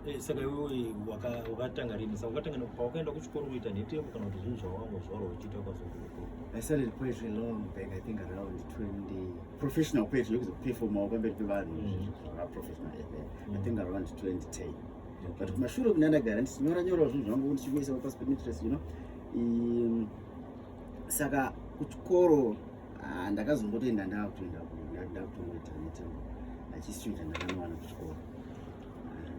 Eh, saka iwewe wakatanga rini saka wakatanga pawakaenda kuchikoro uita nhetembo kana kuti zvinhu zvawanga zvaro uchiita kwazokuko i started poetry long back i think around 20 professional poetry yokuzoperformawo pamberi pevanhu mm. professional i think around 2010 but kumashure kune ndagara ndichinyora nyorawo zvinhu zvangu ndichikuisa pasi pemitress you know saka kuchikoro Ah, ndakazongotoenda ndakutoenda ndakutongoita netembo achistudent ndakanowana kuchikoro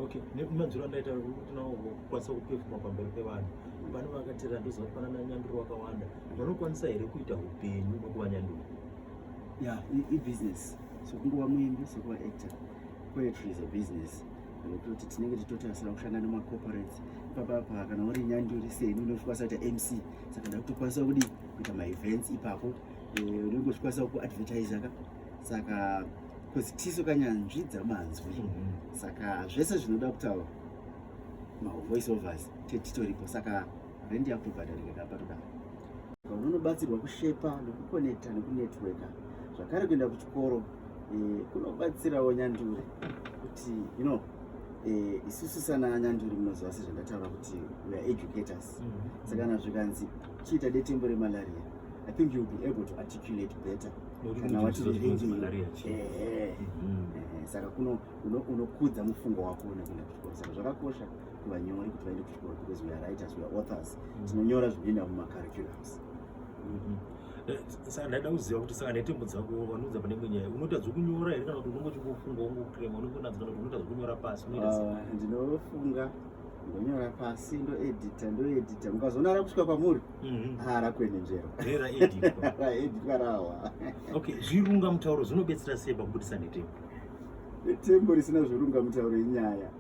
okay nemadziro andaita kuti nawo kukwanisa kupefuma pamberi pevanhu vano vakatera ndoziva kuti panana nyanduro wakawanda vanokwanisa here kuita upenyu nokuva nyanduro ya ibusiness sokunguva muimbi sokuva actor poetry is a business kuti tinenge titotasira kushanda nemacorporates ipapapa kana uri nyanduri seni unokwanisa kuita mc saka ndakutokwanisa kudii kuita maevents ipapo eh, unenge uchikwanisa kuadvertisa ka saka bcause tisu kanyanzvi dzamanzwi mhm. saka zvese zvinoda kutaura mavoice overs tetitoripo saka rendi yakutobhadharika kapatoda unobatsirwa kushepa nekukonekta nekunetworka zvakare kuenda kuchikoro eh, kunobatsirawo nyanduri kuti you know eh, isusu sana nyanduri munoziva sezvandataura kuti weare educators saka kana zvikanzi chiita detembo remalaria i think youll be able to articulate better kana wati revenge saka kuno unokudza mufungo wako nekuenda kuchikoro saka zvakakosha kuvanyori kuti vaende kuchikoro because weare writers weare authors mm-hmm. tinonyora zvinoenda mumacurriculums mm-hmm. eh, saka ndaida kuziva kuti saka netembo dzako vanoudza pane imwe nyaya unoita dzekunyora here kana kuti unongochikufunga wongokrema unongonadzo kana kuti unoita dzekunyora pasi ah, ndinofunga ndonyora pasi ndoedita ndoedita mukazoona rakusvika kwamuri mhm. ha ah, rakwenenjero raeditwa rawa okay zvirunga mutauro zvinobetsera sei pakubudisa netembo netembo risina zvirunga mutauro inyaya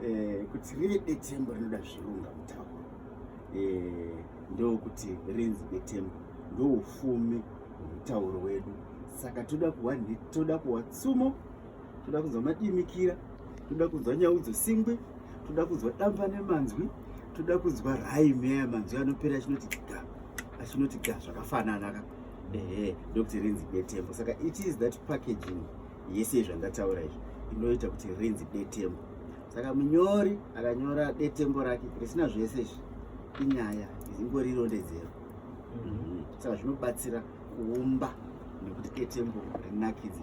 eh, kuti rive detembo rinoda zvirunga mutauro eh, ndokuti renzi detembo ndoufumi hwemutauro wedu saka toda kuwa toda kuwa tsumo toda kunzwa madimikira toda kunzwa nyau dzesingwi toda kunzwa damba nemanzwi toda kunzwa raime aya manzwi anopera achinoti ga achinoti ga zvakafanana ka ehe ndokuti rinzi detembo saka it is that packaging yese yezvandataura izvi inoita kuti rinzi detembo saka munyori akanyora detembo rake risina zvese izvi inyaya izingori irondedzero mhm. saka zvinobatsira kuumba nekuti detembo rinakidzi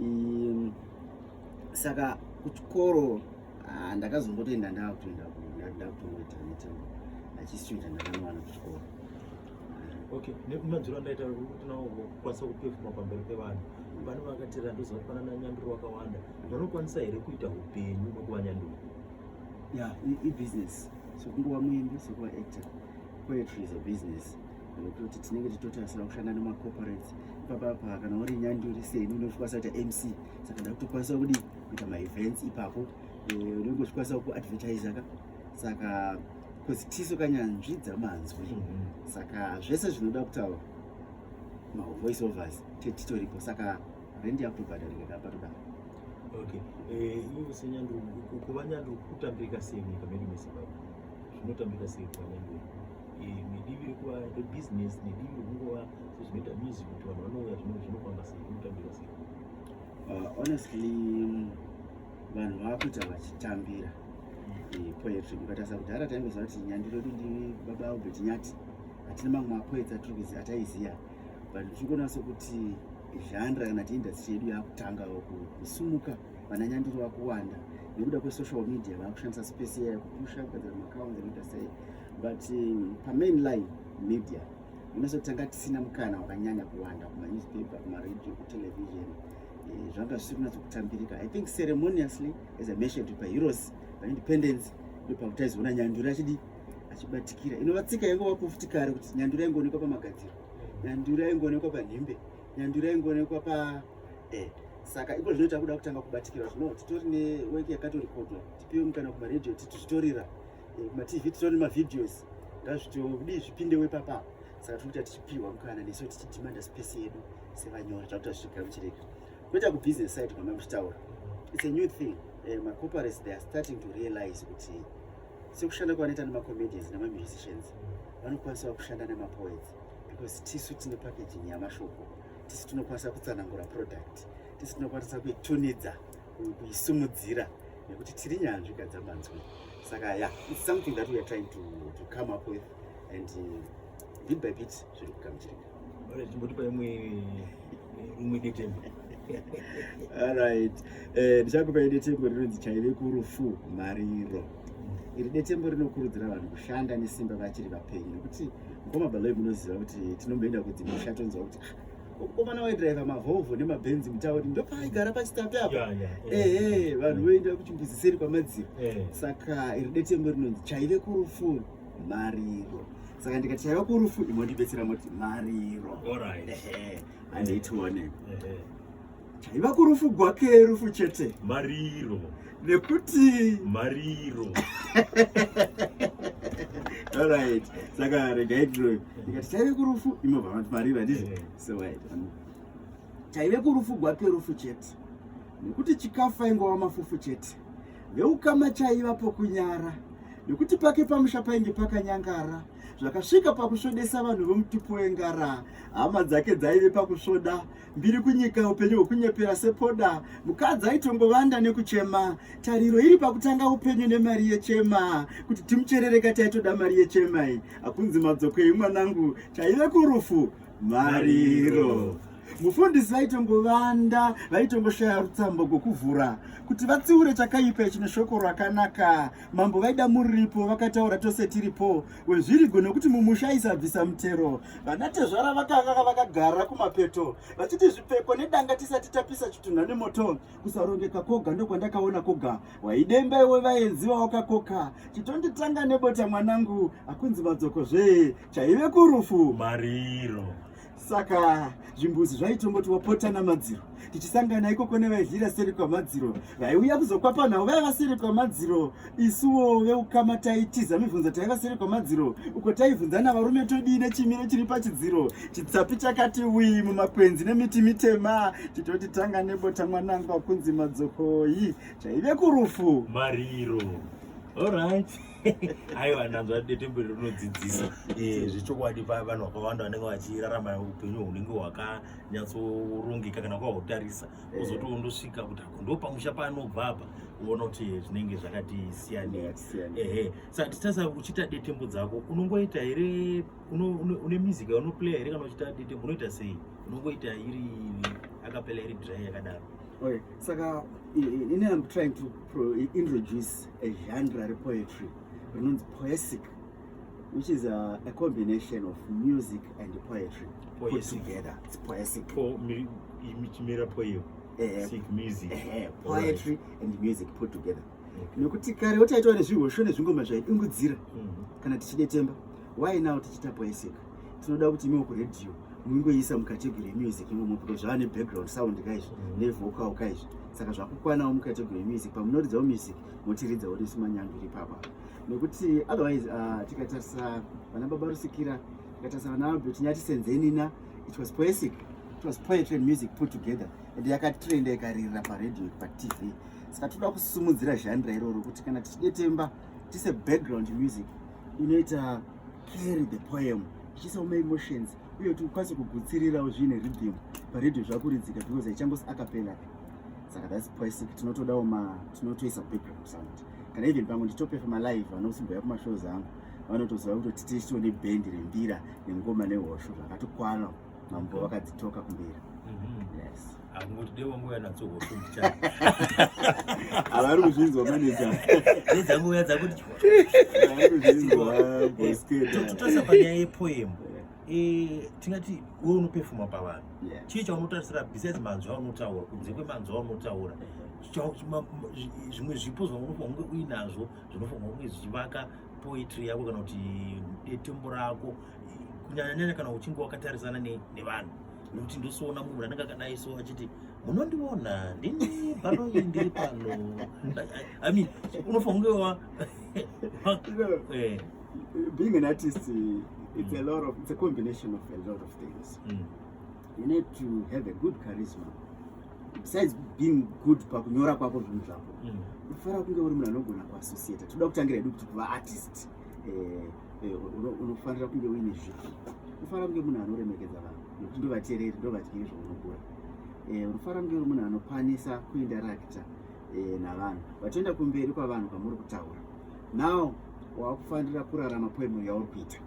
um, saka kuchikoro ah, ndakazombotoenda ndakutoenda ndakutongoita mitambo achisichoita ndakanowana kuchikoro okay nemadziro andaita kuti nawo kukwanisa kupefuma pamberi pevanhu vane vakatera ndoziva kuti panana nyanduro wakawanda vanokwanisa here kuita upenyu nokuva nyanduro ya ibusiness sokunguva muimbi sokuva actor poetry is a business kuti tinenge tichitotarisira kushanda nemacorporates ipapapa kana uri nyanduri seni unozvikwanisa kuita mc saka ndakutokwanisa kudi kuita maevents ipapo eh, unenge uchikwanisa kuadvertiser ka saka bcause tisu kanyanzvi dzamanzwi mhm. saka zvese zvinoda kutaura mavoice overs tetitoripo saka rendi yakutobhadharika ka patodaro okay eh, iwe senyanduri kuva nyanduri kutambirika sei nyika medu mezimbabwe zvinotambirika sei kuva nyanduri nedivi rekuva rebusiness nedivi rekungova sezvinoita music kuti vanhu vanouya zvinhu zvinofamba sei zvinotambira sei uh, honestly vanhu vakuita vachitambira eh, poetry mukatarisa kudhara taingoziva kuti nyandiro yedu ndi baba albert nyati hatina mamwe mapoets atiri kuziva ataiziva but tiri kuona sokuti zhandra kana ti industry yedu yakutanga kusumuka vana nyandiro vakuwanda nekuda kwesocial media vakushandisa space iya kupusha kugadzira macounts ekuita sei but um, pamain line media unoso tanga tisina mukana wakanyanya kuwanda kumanewspaper kumaradio kutelevision eh, zvanga zvisiri kunatso kutambirika i think ceremoniously as i mentioned pa heroes paindependence ndopakuti aizoona nyanduri achidi achibatikira inova tsika yange wakufuti kare kuti nyanduri aingoonekwa pamagadziro nyanduri aingoonekwa panhembe nyanduri aingoonekwa pa eh, saka iko zvino takuda kutanga kubatikira zvino titori neweki yakatorikodwa tipiwe mukana kumaradio titi zvitorira eh, matv titori nemavideos ngazvitodii zvipindewo ipapa saka tiri kuita tichipiwa mukana nesu tichidimanda space yedu sevanyora takuta zvichigara kuchireka kuita kubusiness side kwamai muchitaura its a new thing uh, eh, macorporates they are starting to realize kuti sekushanda kwavanoita nemacomedians nemamusicians vanokwanisawo kushanda nemapoets because tisu tine packaging yamashoko tisu tinokwanisa kutsanangura product tisu tinokwanisa kuitunidza kuisimudzira nekuti tiri nyanzvi gadzamanzwi saka ya yeah, it's something that we are trying to, to come up with and uh, bit by bit zviri kugamuchirika chimbotipa imwe rumwe detembo alright eh, ndichakupai uh, detembo rinonzi chaive kurufu mariro iri detembo rinokurudzira vanhu kushanda nesimba vachiri vapenyu nekuti mukoma baloyi munoziva kuti tinomboenda kudzimusha tonzwa kuti ah, komana waidriver mavolvo nemabenz mutauri ndopaigara pachitapi apa ehe vanhu voenda kuchimbuzi seri kwamadziro saka iri detembo rinonzi chaive kurufu mariro saka ndikati chaiva kurufu imondibetsera moti mariro andiitione chaiva kurufu gwake rufu chete mariro nekuti mariro alright saka regai tiroyo ikati chaive kurufu imobva mati mariro handizvo eh. so wait chaive kurufu gwake rufu chete nekuti chikafu aingova mafufu chete veukama chaiva pokunyara nekuti pake pamusha painge pakanyangara zvakasvika pakusvodesa vanhu vemutupo wengara hama dzake dzaive pakusvoda mbiri kunyika upenyu hwekunyepera sepoda mukadzi aitongovanda nekuchema tariro iri pakutanga upenyu nemari yechema kuti timucherereka taitoda mari yechema iyi hakunzi madzokei mwanangu taive kurufu mariro mufundisi vaitongovanda vaitongoshaya rutsambo rwokuvhura kuti vatsiure chakaipa chine shoko rakanaka mambo vaida muripo vakataura tose tiripo wezvirigo nekuti mumusha aisabvisa mutero vanatezvara vakanga vakagara kumapeto vachiti zvipfeko nedanga tisati tapisa chitunha nemoto kusarongeka koga ndokwandakaona koga waidemba iwe vaenzi vawakakoka chitonditanga nebota mwanangu akunzi madzoko zvee chaive kurufu mariro saka zvimbuzi zvaitongoti wapota namadziro tichisangana ikoko nevaidlira seri kwamadziro vaiuya kuzokwapa nhau vaiva seri kwamadziro isuwo veukama taitiza mibvunzo taiva seri kwamadziro uko taibvunzana varume todii nechimiro chiri pachidziro chitsapi chakati wii mumakwenzi nemiti mitema titoti tanga nebota mwanangwa kunzi madzokoyi chaive kurufu mariro allright aiwa ndanzwa detembo iri rinodzidzisa eh, zvechokwadi paya vanhu vakawanda vanenge vachirarama upenyu hunenge hwakanyatsorongeka kana kwahutarisa eh. kozoti wondosvika kuti ako ndo pamusha paanobva apa uona kuti zvinenge zvakati siyanei ehe sa titasa uchita detembo dzako unongoita here une music unoplaya here kana uchita detembo unoita sei unongoita iri akapela iri dry yakadaro okay saka ini am trying to introduce a genre repoetry rinonzi poesic which is a, a combination of music and poetry poesic. put together it's poesic po, mi, michimera poem eh, sic music eh, poetry right. and music put together nekuti kare wotaitwa nezvihosho nezvingoma zvaidungudzira mm -hmm. kana tichidetemba why now tichiita poesic tinoda kuti imiwo kuradio mungoisa mucategory yemusic imomo because zvava nebackground sound kaizvi mm. nevocal kaizvi saka zvakukwanawo mucategory yemusic pamunoridzawo music motiridzawo nesu manyange iri papa nekuti otherwise uh, tikatarisa vana baba rusikira tikatarisa vana albert nyati senzenina it was poesic it was poetry and music put together and yakatrenda ikaririra paradio patv saka tinoda kusumudzira zhandra iroro kuti kana tichidetemba tise background music inoita carry the poem ichiisa uma emotions uye kuti ukwanise kugutsirirawo zviine rhythm paredio zvakuridzika because haichangosi akapela saka thats poesic tinotodawo ma tinotoisa background sound kana even pamwe nditopefa malive vanosimboya kumashows angu vanotoziva kuti tititio nebhendi rembira nengoma nehosho zvakatokwana mambo vakadzitoka kumberi mm-hmm. yes angoti dei wangu uya nadzo hofu ndichani havari kuzvinzwa maneja nedzangu uya dzakuti tototarisa panyaya yepoem eh, tingati we unopefuma pavanhu chii chaunotarisira besides manzwi aunotaura kunze kwemanzwi aunotaura zvimwe zvipo zvaunge uinazvo zvinofanirwa kunge zvichivaka poetry yako kana kuti detembo rako kunyanyanyanya kana uchinge wakatarisana nevanhu nekuti ndosoona munhu anenge akadai so achiti munondiona ndini panoyi ndiri pano i mean unofanira kunge eh. being an artist it's a lot of it's a combination of a lot of things mm. you need to have a good charisma besides being good pakunyora kwako zvinhu zvako mm. unofanira kunge uri munhu anogona kuassociata toda kutangira hedu kuti kuva artist eh, eh, unofanira kunge uine zvipi unofanira kunge munhu anoremekedza vanhu nokuti ndovateereri ndovadyiri zvaunogura eh, unofanira kunge uri munhu anokwanisa kuindarakta navanhu vatoenda kumberi kwavanhu kwamuri kutaura now waakufanira kurarama poemo yauri kuita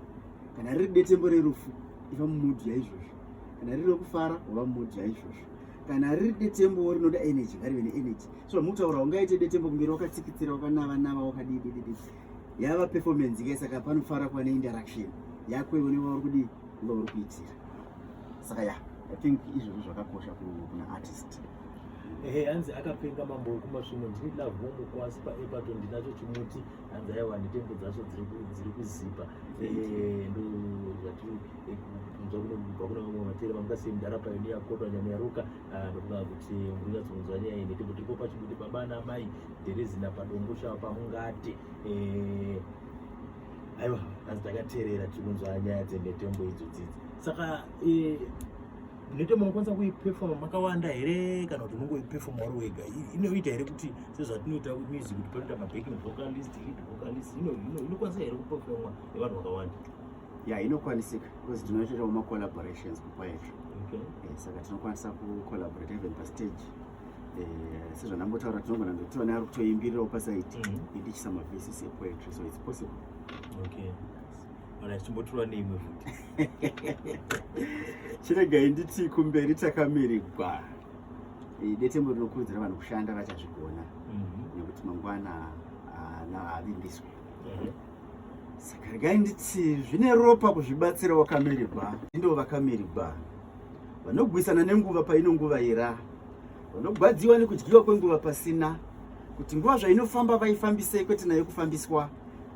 kana riri detembo rerufu iva mumudhi yaizvozvo kana riri rekufara wava mumudhi yaizvozvo kana riri detembo rinoda energy ngarive neenergy so mutaura ungaite detembo kumberi wakatsikitsira wakanava nava wakadii dididi yava performance ke saka panofara kuva neinteraction yako iwe nevauri kudii uva uri kuitira saka ya i think izvozvo zvakakosha kuna artist ehe hanzi akapenga mambo wekumasvino ndini love womukwasi paepato ndinacho chimuti hanzi aiwa netembo dzacho dziri kuzipa eh, ndozvatiri eh, kunzwa kunobva kune vamwe vateri vanga sei mudhara payo neyakotwa nyama yaruka ah, ndokuda kuti murinyatsokunzwa nyaya iyi netembo tiripo pachibuti baba namai dherezina padongo shava pamungati eh, aiwa hanzi takaterera tiri kunzwa nyaya dzenetembo idzo dzidzi saka Nete munokwanisa kuipefoma makawanda here kana kuti munongoipefoma uri wega inoita here kuti sezvatinoita music kuti panoita mabacking vocalist lead vocalist inokwanisa here kupefomwa nevanhu vakawanda ya inokwanisika because tinoitawo macollaborations kupoetry eh, saka tinokwanisa kucollaborate even pastage eh, sezvandambotaura tinogona ndotiona ari kutoimbirirawo pasaiti mm-hmm. indichisa mavesisi epoetry so its possible okay. kana tichimbotura neimwe futi chiregai nditi kumberi takamirigwa detembo rinokurudzira vanhu kushanda vachazvigona mhm. nekuti mangwana haavimbiswe mhm. saka regai nditi zvine ropa kuzvibatsira wakamirigwa ndivo vakamirigwa vanogwisana nenguva paino nguva ira vanogwadziwa nekudyiwa kwenguva pasina kuti nguva zvainofamba vaifambisei kwete nayo kufambiswa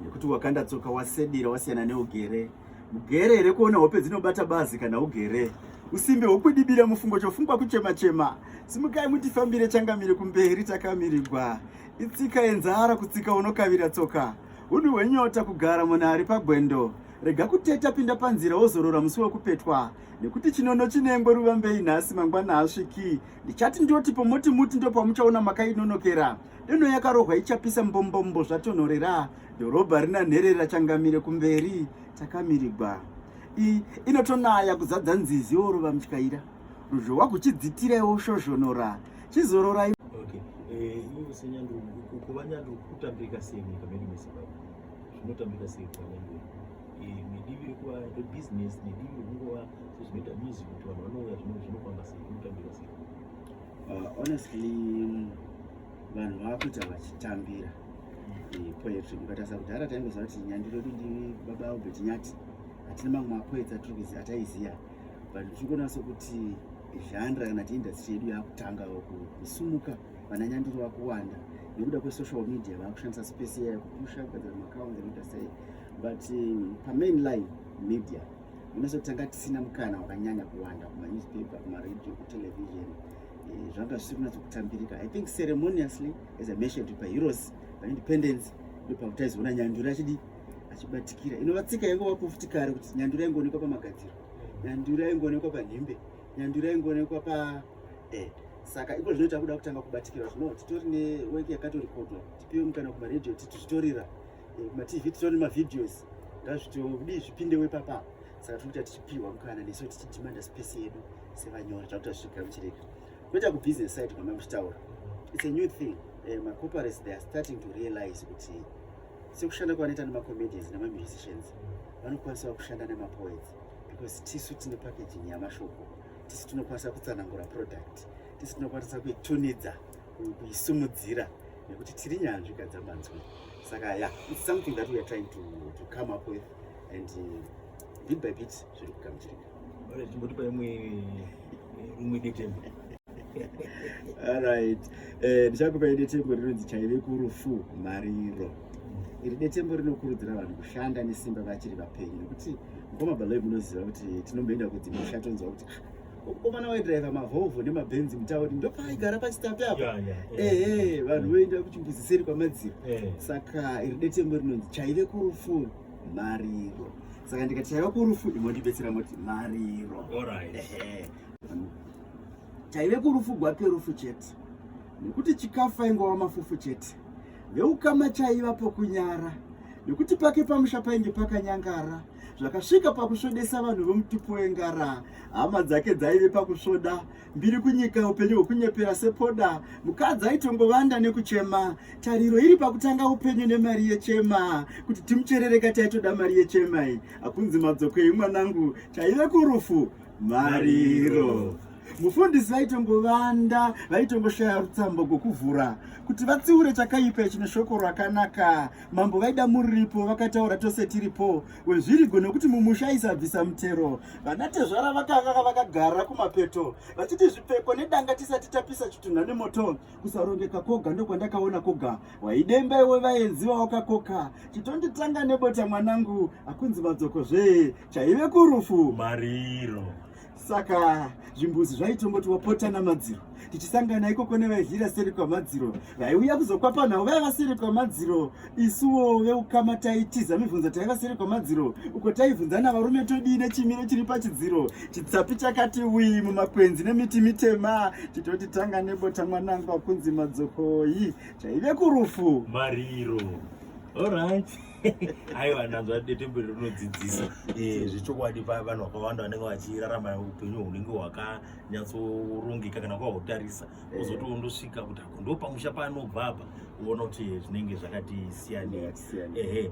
nekuti wakanda tsoka wasedira wasiyana neugere mugere here kuona hope dzinobata bazi kana ugere usimbe hwokudibira mufungo chofungwa kuchemachema simukai mutifambire changamire kumberi takamirigwa itsika yenzara kutsika unokavira tsoka unhu hwenyota kugara munhu ari pagwendo rega kuteta pinda panzira wozorora musi wekupetwa nekuti chinono chinengwe ruvambei nhasi mangwana hasviki ndichati ndotipo moti muti ndopamuchaona makainonokera Deno yakarohwa ichapisa mbombombo zvatonhorera, dhorobha rina nherera changamire kumberi takamirigwa. I, inotonaya kuzadza nzizi yorova mutyaira. Ruzhowa kuchidzitira iwo shozhonora, chizororai. Okay. Eh, iwe senyanduru, kuva nyanduru kutambika sei nyika medu meZimbabwe? Zvinotambika sei kuva nyanduru? Eh, nedivi rekuva rebusiness, nedivi rekungova sezvinoita music kuti vanhu vanouya zvinofamba sei, kunotambika sei? Uh, honestly vanhu vakuita vachitambira eh, poetry mukatarisa kudhara taingoziva kuti nyandiro yedu ndi baba albert nyati hatina mamwe mapoets atiri ataiziva but tichikuona sokuti zhandra kana ti industry yedu yakutanga kusumuka vana nyandiro vakuwanda nekuda kwesocial media vakushandisa space iya kupusha kugadzira macounts anoita sei but eh, pamain line media Unoso tanga tisina mukana wakanyanya kuwanda kuma newspaper, kuma radio, ku television. Eh, zvanga zvisiri kunatso kutambirika. I think ceremoniously as I mentioned by heroes by independence ndipo kutaizoona nyanduri achidi achibatikira. Inova tsika yangu wakufuti kare kuti nyanduri yangoonekwa pa magadziro. Nyanduri yangoonekwa pa nhimbe. Nyanduri yangoonekwa pa eh saka iko zvinoita kuda kutanga kubatikira zvino titori ne work yakatorekodwa tipiwe mukana kuma radio titi zvitorira eh, matv titori nemavideos ngazvitodii zvipindewo ipapa saka tiri kuita tichipihwa mukana nesu tichidimanda space yedu sevanyori takuta zvichigara muchirega kuita kubusiness side kwama muchitaura its a new thing eh, macorporates they are starting to realize kuti sekushanda kwavanoita nemacomedians nemamusicians vanokwanisawo kushanda nemapoets because tisu tine packaging yamashoko tisu tinokwanisa kutsanangura product tisu tinokwanisa kuitunidza kuisumudzira nekuti tiri nyanzvi kadzabanzwa saka yeah it's something that we are trying to, to come up with and uh, bit by bit zviri kugamuchirika ore chimbotipa imwe rimwe eh, detembo alright eh, ndichakupa uh, detembo rinonzi chaive kurufu mariro iri detembo rinokurudzira vanhu kushanda nesimba vachiri vapenyu nekuti mukoma baloi munoziva kuti tinomboenda kudzimusha tonzwa kuti ah, komana waidriver mavolvo nemabenzi mutauri ndopaigara pachitapi apa ehe vanhu voenda kuchimbuzi seri kwamadziro saka iri detembo rinonzi chaive kurufu mariro saka ndikati chaiva kurufu imondibetsera moti mariro chaive kurufu gwake rufu chete nekuti chikafu aingova mafufu chete veukama chaiva pokunyara nekuti pake pamusha painge pakanyangara zvakasvika pakusvodesa vanhu vomutupo wengara hama dzake dzaive pakusvoda mbiri kunyika upenyu hwekunyepera sepoda mukadzi aitongovanda nekuchema tariro iri pakutanga upenyu nemari yechema kuti timucherereka taitoda mari yechema iyi hakunzi madzokei mwanangu taive kurufu mariro mufundisi vaitongovanda vaitongoshaya rutsambo gwokuvhura kuti vatsiure chakaipa chine shoko rakanaka mambo vaida muripo vakataura tose tiripo wezvirigo nokuti mumusha aisabvisa mutero vanatezvara vakanga vakagara kumapeto vachiti zvipfeko nedanga tisati tapisa chitunha nemoto kusarongeka koga ndokwandakaona koga waidemba iwe vaenzi vaokakoka chitonditanga nebota mwanangu akunzi madzoko zvee chaive kurufu mariro saka zvimbuzi zvaitongoti wapota namadziro tichisangana ikoko nevaihira seri kwamadziro vaiuya kuzokwapa nhau vaiva seri kwamadziro isuwo veukama taitiza mibvunzo taiva seri kwamadziro uko taibvunzana varume todii nechimiro chiri pachidziro chitsapi chakati wii mumakwenzi nemiti mitema titoti tanga nebota mwanangu akunzi madzokoyi chaive kurufu mariro allright aiwa ndanzwa detembo iri rinodzidzisa eh, zvechokwadi paya vanhu vakawanda vanenge vachirarama upenyu hunenge hwakanyatsorongeka kana kwahwotarisa eh. ozoti wondosvika kuti ako ndopamusha paanobva apa uona kuti zvinenge zvakati siyanei ehe